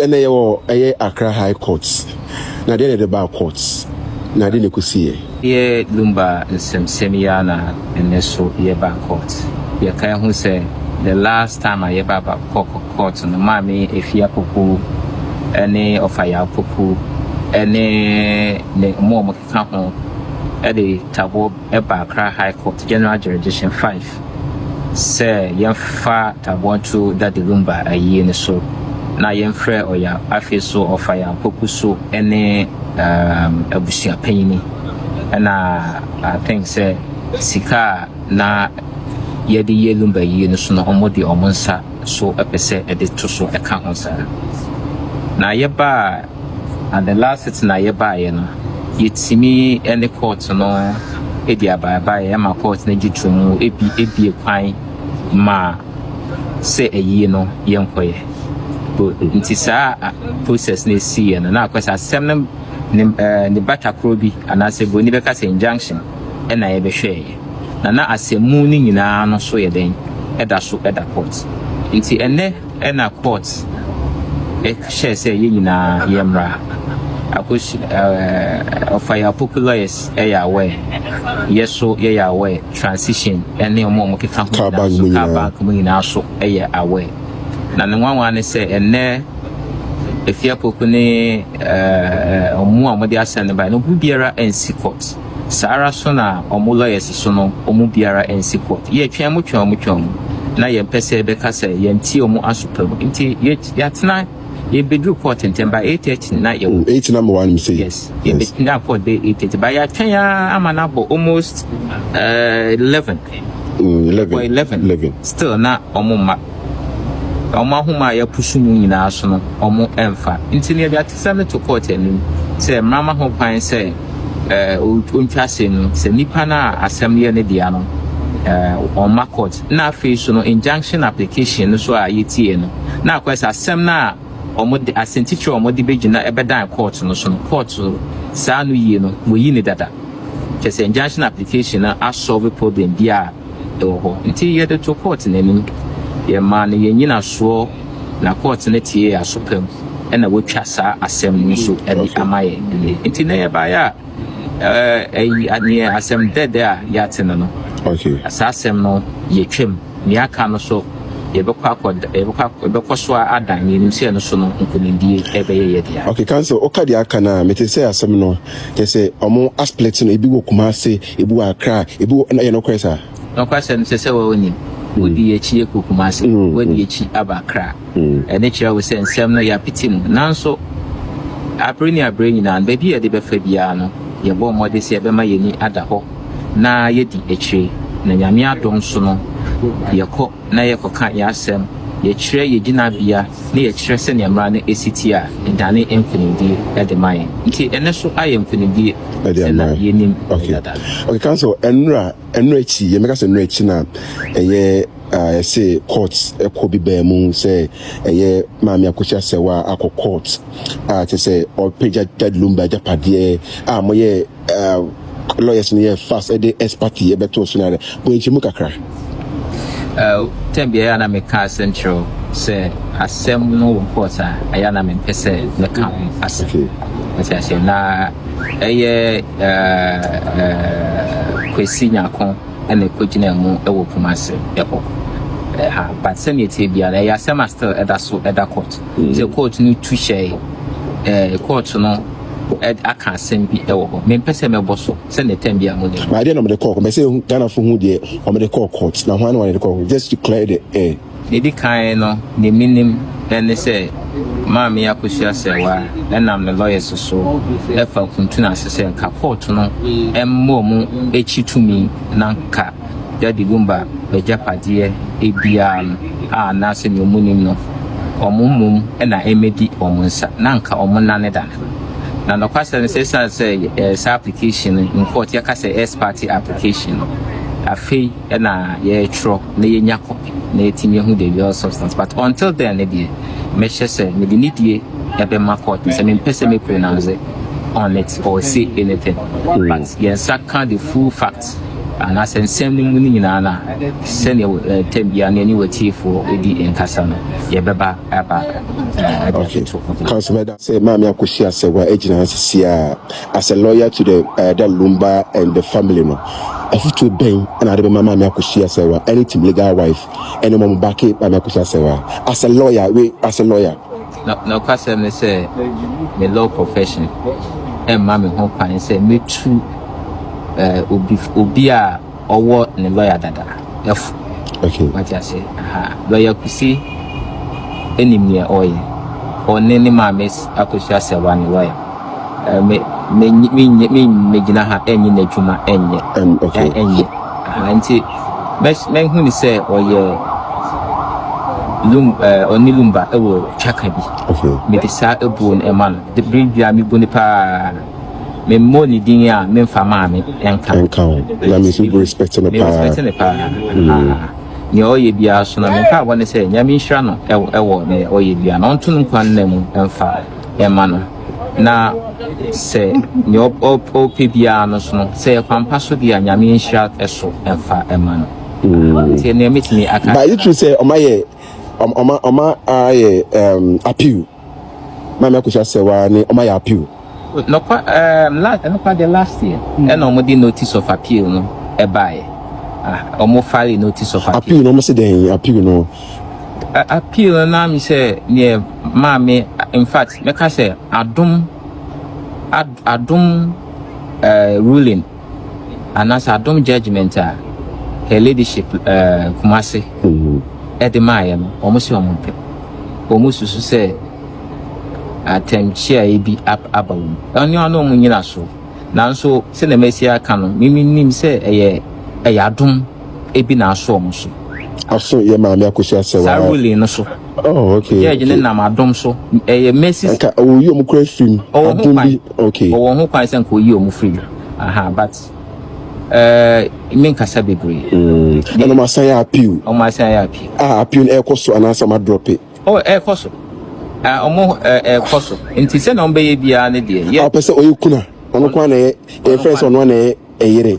Ɛnɛ yɛwɔ ɛyɛ Accra High Court, na deɛ na ɛde baa court, na deɛ na ɛkɔsiiɛ. Ɛyɛ Lumba nsɛmsɛm yi ara na ɛnɛ nso yɛbaa court. Yɛkae ho sɛ the last time a yɛbaa Babcock court no, Maame Afie Apoku ne Ɔfayɛ Apoku ne ne wɔn a wɔkeka ho de taboɔ. ɛbaa Accra High Court General Jurisdiction Five sɛ yɛmfa taboɔ nto Dade Lumba ayie no so na yɛmfrɛ Ɔya afei so Ɔfaya Apoku so ne um, abusua panyini ɛna I think sɛ sika a na yɛde yɛ Lumba yie no so no ɔmo de ɔmo nsa so ɛpɛ sɛ ɛde to so ɛka ho saa na yɛbaa Adela setena yɛ baeɛ no yɛtumi ne court no di abaebaeɛ ma court no gye to mu ebi ebie kwan ma sɛ ayie no yɛnkɔyɛ nti saa process no ɛsiiɛ no na akɔ sɛ asɛm no ne ɛɛ ne batakorɔ bi anaasɛ buroni bɛka sɛ injunction ɛna yɛbɛhwɛeɛ na na asɛmmu no nyinaa no so yɛ dɛn ɛda so ɛda court nti ɛnɛ Ɛna court hyɛɛ sɛ yɛn nyinaa yɛmmra. Akosua ɛɛ ɔfa yɛ apoku lawyers yɛ aware. Yɛ so yɛyɛ aware. Transition ɛne ɔmo a ɔmo keka ho nyinaa so. Car bank mu nyinaa. Car bank mu nyinaa so yɛ aware. Na ne nwanwa ne sɛ ɛnnɛ Afie Apoku ne ɛɛ ɔmo a ɔmo de asɛm no baeɛ no obiara ansi court. Saa ara nso na wɔn lawyers nso no wɔn mu biara nsi court. Yɛtwɛn wɔn twɛn wɔn twɛn wɔn na yɛmpɛ sɛ bɛka sɛ yɛnte wɔn aso pa mu nti yɛatena yɛbɛduru court ntɛm by eight thirty na yɛwɔ. Mm, eight na mewɔ anim sei. Yes, yɛbɛtena court bɛyɛ eight thirty but yɛatwɛn ara ama no abɔ almost uh, eleven. Mm, eleven. Eleven. Eleven. Still na wɔn mma. Na wɔn ahoma a yɛapusu mu nyinaa so no, wɔmfa. Nti no, yɛde atesɛm no to kɔɔt anim sɛ mmara ma ho kwan sɛ ontwa asɛm no, sɛ nipa no a asɛm no yɛ ne dea no, ɔmma kɔɔt. Na afei nso no, injunction application no nso a yɛtiee no, na akɔyɛ sɛ asɛm no a wɔde, asɛntitire a wɔde bɛgyina bɛdan kɔɔt no so no, kɔɔt saa no yie no, wɔayi no dada. Kyerɛ sɛ injunction application no asɔlve problem biara. wɔ hɔ. Ntsi yɛdze too kɔɔt no enyim. Yɛmaa no hɛn nnyinasoɔ na kɔɔt no tsiee yɛn aso pa mu na woetwa saa asɛm no so dze ama hɛn ndɛ. Ntsi ndɛ yɛbaeɛ a, ɛɛ ayi yɛ asɛm dɛɛdɛɛ a yɛatse no no. Saa asɛm no yɛatwa mu. Nea aka no so yɛbɛkɔ akɔ da yɛbɛkɔ akɔ yɛbɛkɔ so adan na yɛnim sɛ no so no nkunimdie ɛbɛyɛ yɛ dea. Okay, counsel, woka deɛ aka no a, mete sɛ asɛm no, kyɛ sɛ wɔn asplit no, ebi wɔ Kumasi, Ebi wɔ akra a, ebi wɔ na ɛyɛ nokorɛ saa. Nokwasɛm sɛ sɛ wɔ nim. Wodi y'akyi yɛ kɔ Kumasi, w'adi y'akyi aba Accra. Ɛno kyerɛ wo sɛ nsɛm no y'apiti mu. Nanso abere ne abere nyinaa no, baabi a yɛde bɛfa biara no, yɛbɔ mmɔden sɛ yɛbɛma y'ani ada hɔ na y'adi akyire. Na Nyame adom so no, yɛkɔ. na yɛkɔka yɛn asɛm, yɛkyerɛ yɛn gyinabea, na yɛkyerɛ sɛnea mmara no si teɛ a, ɛdane nkonimdie de ma yɛn. Enti, ɛno nso ayɛ nkonimdie sɛ na yɛnim no dada. Okay, counsel, ɛnora, ɛno akyi, yɛn bɛka sɛ ɛno akyi na ɛyɛ ɛsɛ court ɛkɔ bi baa mu sɛ ɛyɛ maame akɔsi asɛwa akɔ court a kyɛ sɛ ɔpagya Dad Lumba agyapadeɛ a moyɛ uh, lawyers no yɛ fast ɛde expert yi ɛbɛto so na dɛ bɔnkyɛ mu kakra. Uh, tɛn biara yɛ na meka asɛm kyerɛw sɛ asɛm no wɔ court a ɛyɛ na mempɛ sɛ mɛka ho asɛm ɛsɛ asɛm na ɛyɛ kwasi nyako ɛna ɛkɔgyina mu ɛwɔ poma ase ɛhɔ ɛha but sɛdeɛ ɛteɛ biara ɛyɛ asɛm a still ɛda so ɛda court mm. sɛ court no tu hyɛe court no aka asɛm bi wɔ hɔ mempɛ sɛ mɛbɔ so sɛ ne tɛm bi a mode na adeɛ na ɔmde kɔɔ mɛsɛ ɛhu Ghanafoɔ hu deɛ ɔmde kɔɔ court na hwan na wɔde kɔɔ just to clear the air ɛdi kan no ne menim ɛne sɛ maame akosua sɛwa ɛnam ne lawyers so ɛfa nkuntunu ase sɛ nka court no ɛmmɔ mu akyi tumi na nka Daddy Bumba bagyapadeɛ biara no a na sɛnea ɔmo nim no ɔmo mmom na ɛmɛdi ɔmo nsa na anka ɔmo nane dane no. Na nɔkwasɛm no sɛ ɛsiane sɛ yɛɛ saa application no, in court yɛka sɛ ex parte application no, afei na yɛɛtwerɛ na yɛnya copy na yɛatumi ahu the real substance but until then no deɛ mɛhyɛ sɛ mede nidie ɛbɛma court no sɛ mempɛ sɛ mɛ pronounce on it or say anything but yɛn nsa ka the full fact. anaasɛ nsɛm no mu no nyinaa na sɛdeɛ ɛtɛm biara ne ɛne watiefoɔ di nkasa no yɛbɛba aba ɛde atoto ho. Council Meda sɛ Maame Akosi Asɛwa agyina ha sisi a as a lawyer to the uh, the Lumba and the family no afutuo bɛn ɛna ade bɛma Maame Akosi Asɛwa ɛne team legal wife ɛne wɔn baake Maame Akosi Asɛwa as a lawyer we as a lawyer Nokwasɛm ne sɛ, me law profession mma me ho kwan sɛ metu obi a ɔwɔ ne lɔya dada fo. Wate ase? Aha. Lɔya Kusi nim nea ɔreyɛ. Ɔne ne maame Akosua Sɛwa ne lɔya. Me, me, me, me, me, me gyina ha ɛnyɛ n'adwuma ɛnyɛ. Um, okay. Ɛnyɛ. Aha nti, mɛ, mɛ hu ni sɛ ɔyɛ lum, ɛɛ ɔne lumba ɛwɔ twaka bi. Okay. Me de saa ebuo no ɛma no. De biri bi a me bu ne paa. Me mmɔ ne din a me nfa maame ɛnka. Ɛnka o. Na me si bu respect ne paa. Me respect ne paa. Mm. Ah. nea ɔyɛ biara so na meka abɔ ne sɛ nyame nhyira no ɛwɔ nea ɔyɛ biara na ɔnto no nkwa nna mu ɛmfa ɛma no, na sɛ nea ɔpɛ biara no so no, sɛ yɛ kwampa so deɛ a, Nyame nhyira ɛso ɛmfa ɛma no. Mm. Nti ɛnea mɛtumi aka. But it true sɛ ɔma yɛ ɔma ɔma ayɛ um, appeal. Maame akosua sɛ waa ne ɔma yɛ appeal. Nɔkwa um, last nɔkwa deɛ last year mm. ɛna ɔmo de notice of appeal no ɛbaeɛ. Ah, ɔmo file notice of appeal. Appeal no ɔmo se dɛn appeal no. appeal no na me sɛ neɛ maame in fact mɛka sɛ adom adom uh, ruling anaasɛ adom judgment a her ladyship uh, kumase ɛde maayɛ no wɔn sɛ wɔn mpɛ wɔn susu sɛ atɛmkyeaeɛ bi aba wɔn ɛne ɔne wɔn nyina so nanso sɛ na mɛsi aka no mimi nim sɛ ɛyɛ ɛyɛ adom bi na aso wɔn so. Aso yɛ maame akosi asɛ wa. Saa ruling no so. Oh okay. Judge ne nam adom so ɛyɛ mercy. Nka oyi wɔn kura firi mu. Ɔwɔ ho kwan okay. Ɔwɔ ho kwan sɛ nka oyi wɔn firi mu. Aha but ɛɛ eh, mi nkasa bebree. Hmm. Ɛna ɔmo asan yɛ appeal. Ɔmo asan yɛ appeal. Ah appeal no ɛkɔ so anaasɛ ɔmo adrɔp it. Oh ɛkɔ so. Ah ɔmo ɛkɔ so nti sɛ na ɔmo bɛyɛ biara ne deɛ. Ɔpɛ sɛ ɔyɛ kuna ɔno kwan na ɛyɛ ɛfɛ sɛ ɔno na ɛyɛ ɛyere.